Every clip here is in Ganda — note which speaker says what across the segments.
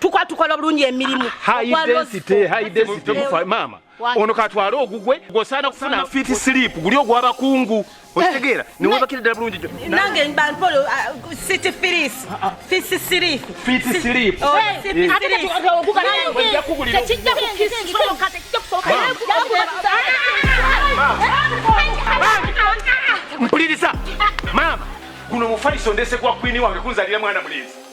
Speaker 1: tukwa tukola bulungi emirimu
Speaker 2: maama ono katwale ogugwe gwosaana kufuna fiti silipu guli ogwabakungu eh. okitegeera newebakira ddala bulungi nange bampolo
Speaker 1: uh, city firis ah, ah. fisi silipu fiti silipu oh,
Speaker 2: mpuliriza maama guno mufaliso ndese gwa kwini wange kunzalira mwana mulenzi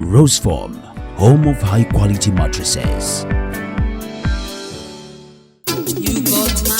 Speaker 3: Roseform, home of high quality mattresses.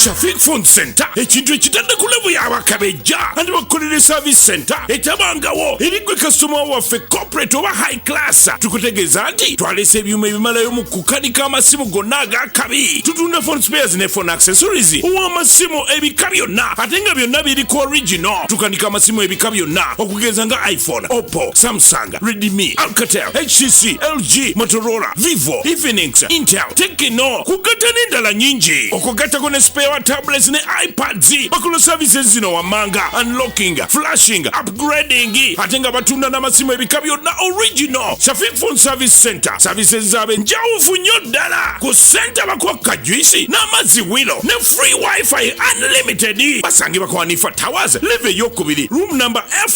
Speaker 4: Shafiq Phone Center ekintu ekitadde ku levu y'abakabejja andi bakukolera service center etabangawo eri gwe kasitoma waffe corporate oba high class tukutegeeza nti twalese ebyuma ebimalayo mu kukanika amasimu gonna ag'akabi tutunda phone spares ne phone accessories ow'amasimu ebika byonna ate nga byonna biri ku original tukanika amasimu ebika byonna okugeza nga iphone oppo samsung Honda, Redmi, Alcatel, HTC, LG, Motorola, Vivo, Infinix, Intel, Tecno kugatta n'endala nyingi okugattako ne spare wa tablets ne iPads bakola services zino wammanga unlocking, flashing, upgrading ate nga batunda n'amasimu ebika byonna original Shafiq Phone Service Center services zaabwe njawufu nnyo ddala ku senta bakwakka juisi n'amazzi wilo ne free wifi unlimited basangibwa kwa Hanifa Towers live eyokubiri room number F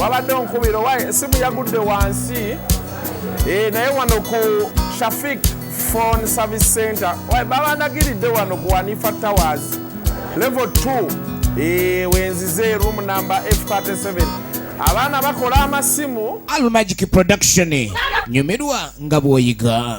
Speaker 5: wabadde onkubira owa esimu yagudde wansi eh, naye wano ku shafik phone service center babandagiridde wano ku wanifa towers level 2 eh, wenzize room number f37 abaana bakola amasimu almagic
Speaker 6: production nyumirwa nga bwoyiga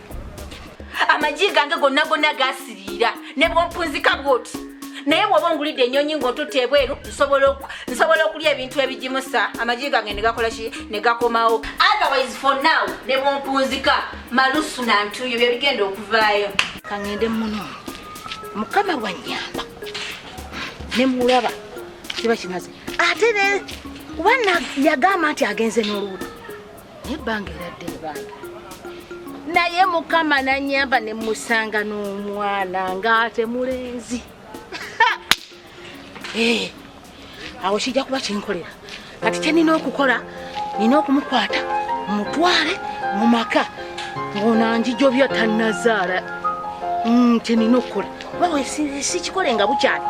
Speaker 1: amagi gange gonna gonna gasiriira ne bwompunzika bwoti naye bwoba ongulidde enyonyi ngaotutte ebweru nsobola okulya ebintu ebigimusa amagi gange negakolaki negakomawo otherwise for now ne bwompunzika malusu nantuyo byebigenda okuvaayo kangende muno mukama wanyamba nemulaba kiba kimaze ate ne kuba yagamba nti agenze n'olubuto naye banga eradde ebanga naye mukama nanyamba nemusanga n'omwana ngaate mulenzi eh, awo kijja kuba kinkolera kati kyenina okukola nina okumukwata mutwale mu maka ngonanjijobya tanazaala mm, kyenina okukola bawe sikikole nga bukyali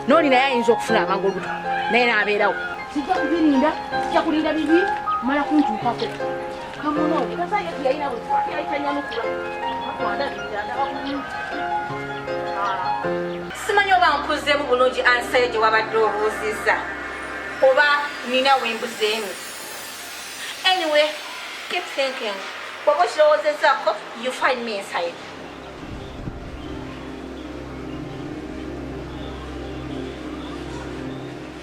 Speaker 1: nooli naye ayinza okufuna amangu olubuto naye nabeerawo Sijja kubirinda, sijja kulinda bibi, mala kuntuukako. Kamuno, kasa yetu yalina bwe twali yalitanyamukula. Akwanda bidanda bakulu. Simanyi oba nkuzeemu bulungi ansayo gye wabadde obuuzizza oba nina wembuzeemu. Anyway, keep thinking. Bw'oba okirowoozezaako, you find me inside.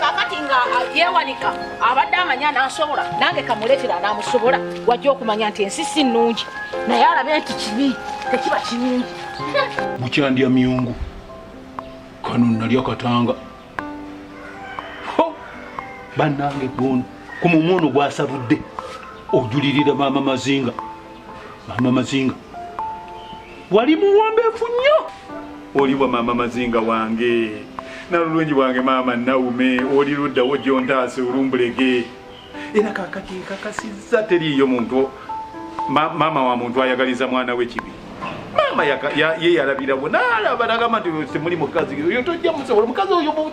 Speaker 1: kakati nga yewanika abadde amanya nasobola nange kamuletera namusobola wajja okumanya nti ensi si nungi naye alabe nti kibi tekiba kirungi bukyandya
Speaker 2: myungu kano nalya katanga banange gono ku mumwa ono gwasabudde ojulirira maama mazinga maama mazinga wali muwombeefu nnyo oliwa maama mazinga wange nalulungi bwange maama naume oli luddawo gyontaase olumbulege era kakati nkakasizza teriiyo muntu maama wa muntu ayagaliza mwana we kibi maama ye yalabirawo nalaba nagamba nti temuli mukazi oyo tojja musobola omukazi oyo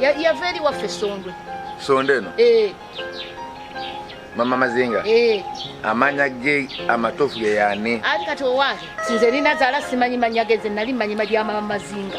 Speaker 1: yava eri waffe sondwe sonde eno
Speaker 7: eh. mama mazinga eh. amanya ge amatofu geyani ali kati owange
Speaker 1: sinze nina zala simanyi manya geze nali manyi malya mama mazinga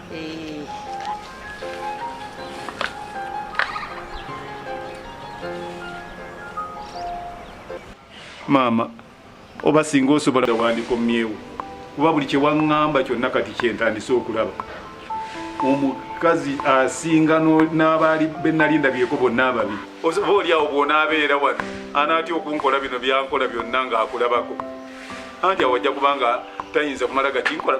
Speaker 2: maama oba singa osobola wandikomyewo kuba buli kyewaŋŋamba kyonna kati kyentandise okulaba omukazi asinga n'abaali benali ndabyeko bonna ababi oba olyawo bwonaabeera wano anaatya okunkola bino byankola byonna ng'akulabako anti awajja kubanga tayinza kumala gakinkola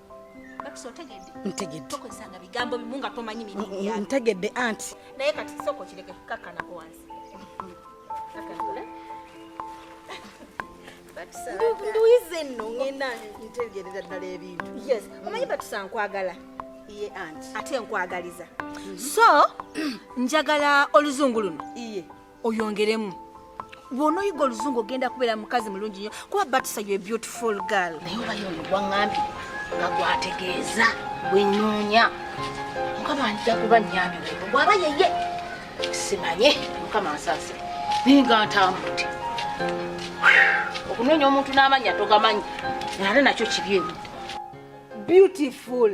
Speaker 1: ntegedde anti
Speaker 8: naye kati soko
Speaker 1: kireke kakanako wansi
Speaker 8: nduyize nno ngenda ntegerera ddala ebintu yes omanyi batusa
Speaker 1: nkwagala iye anti
Speaker 8: ate nkwagaliza
Speaker 1: so njagala oluzungu luno iye
Speaker 8: oyongeremu
Speaker 1: bwonoyiga oluzungu ogenda kubeera mukazi mulungi nyo kuba batisa yo beautiful girl naye obayo ono gwaŋambi
Speaker 8: nga gwategeeza bwenoonya mukama nja kuba nyambi webo bwaba yeye simanye mukama nsase naye nga ntambudde okunoonya omuntu n'amanya togamanyi nate nakyo kibi ebi
Speaker 1: beautiful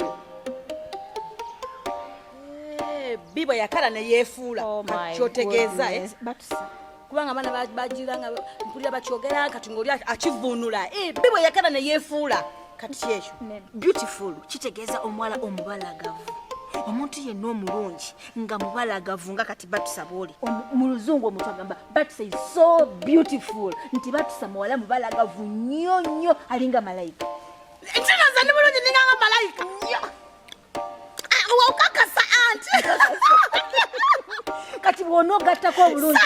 Speaker 8: bbi bwe yakala ne yeefuula oh kyotegeeza eh?
Speaker 1: kubanga abaana
Speaker 8: bagira nga mpulira bakyogera kati ngaoli akivuunula eh, bbi bwe yakala ne yeefuula kati kyekyo beautiful
Speaker 1: kitegeeza omuwala omubalagavu omuntu yenna omulungi nga mubalagavu nga kati batusa bwoli mu luzungu omuntu agamba batusa is so beautiful nti batusa muwala mubalagavu nnyo nnyo alinga malayika ntinazani
Speaker 8: bulungi ninganga malayika nnyo wawukakasa anti
Speaker 1: kati bwonogattako obulungi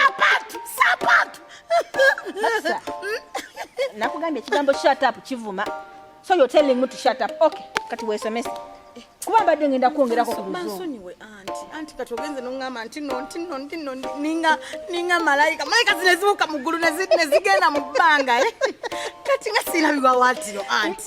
Speaker 1: nakugambye ekigambo shut up kivuma so you're telling me to shut up okay kati wesomese kuba mbadde ngenda kwongerako ku luzungu anti
Speaker 8: kati ogenze noŋŋamba nti no nti no nti no ninga ninga malayika malayika zino ezibuuka mu ggulu ne zigenda mu bbanga eh? kati nga siirabibwa waatiro anti